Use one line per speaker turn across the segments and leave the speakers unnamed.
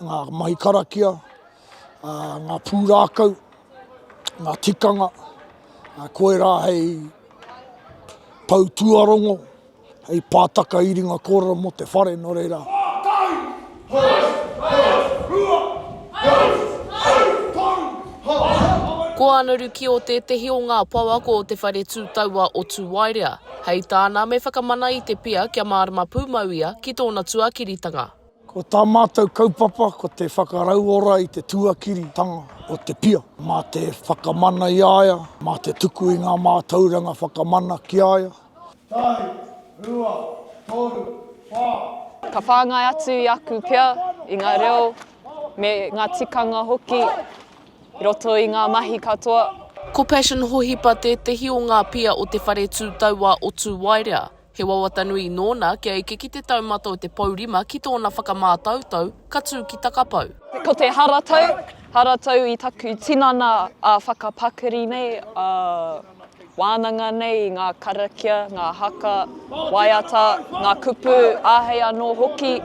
ngā mahi karakia, ngā pūrākau, ngā tikanga, koirā hei pou tuarongo, hei pātaka iringa kōrero mō te whare, nō reira. Pātai! Hous! Hous! Rua! Hous!
Hous! Toru! Hous! Hous! Ko Ana Rukio tētehi o ngā pouako o Te Whare Tū Taua o Tūwaerea. Hei tāna, me whakamana i te pia kia mārama pūmau ia ki tōna tuakiritanga. Ko tā
mātou kaupapa ko te whakarauora i te tuakiritanga o te pia, mā te whakamana i a ia, mā te tuku i ngā mātauranga whakamana ki a ia. Tahi, rua, toru, wha. Ka whāngai
atu i aku pia, i ngā reo, me ngā tikanga hoki i roto i ngā mahi katoa. Ko Passion
Hohipa tētehi o ngā pia o te whare tūtaua o Tūwaerea. He wawata nui nōna kia eke ki te taumata o te pou rima ki tōna whakamātautau, ka tū ki Takapau. Ko te haratau,
haratau i taku tinana ā whakapakari nei, ā wānanga nei, ngā karakia, ngā haka, waiata, ngā kupu, āhei anō hoki.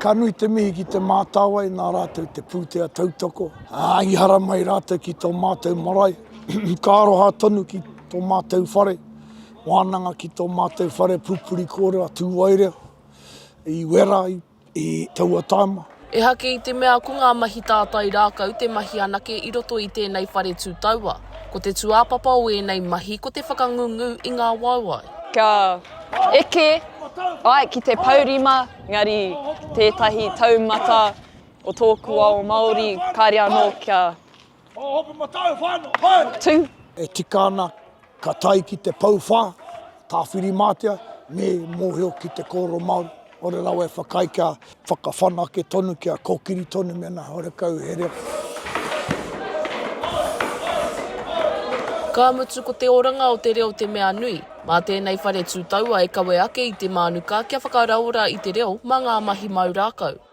Ka nui te
mihi ki Te Mātāwai nā rātou te pūtea tautoko, ā, i haramai rātou ki tō mātou marae, ka aroha tonu ki tō mātou whare. Wānanga ki tō mātou whare pupuri kōrero a Tūwaere i Wera i taua taima. Ehake i te mea
ko ngā mahi tātai rākau te mahi anake i roto i tēnei whare tūtaua. Ko te tūāpapa o ēnei mahi ko te whakangungu i ngā waewae. Kia
eke ai ki te pourima engari tētahi taumata o tōku ao Māori kāre anō kia. Ho hopu matau whano, hoi! Tū! E tika ana,
ka tae ki te pou wha, Tāwhirimātea, me mōhio ki te kōrero Māori, ore rawa e whakaae kia whakawhanake tonu, kia kōkiri tonu mēnā horekau he reo.
Ka mutu ko te oranga o te reo te mea nui. Mā tēnei whare tūtaua e kawe ake i te mānuka kia whakaraora i te reo mā ngā mahi māu rākau.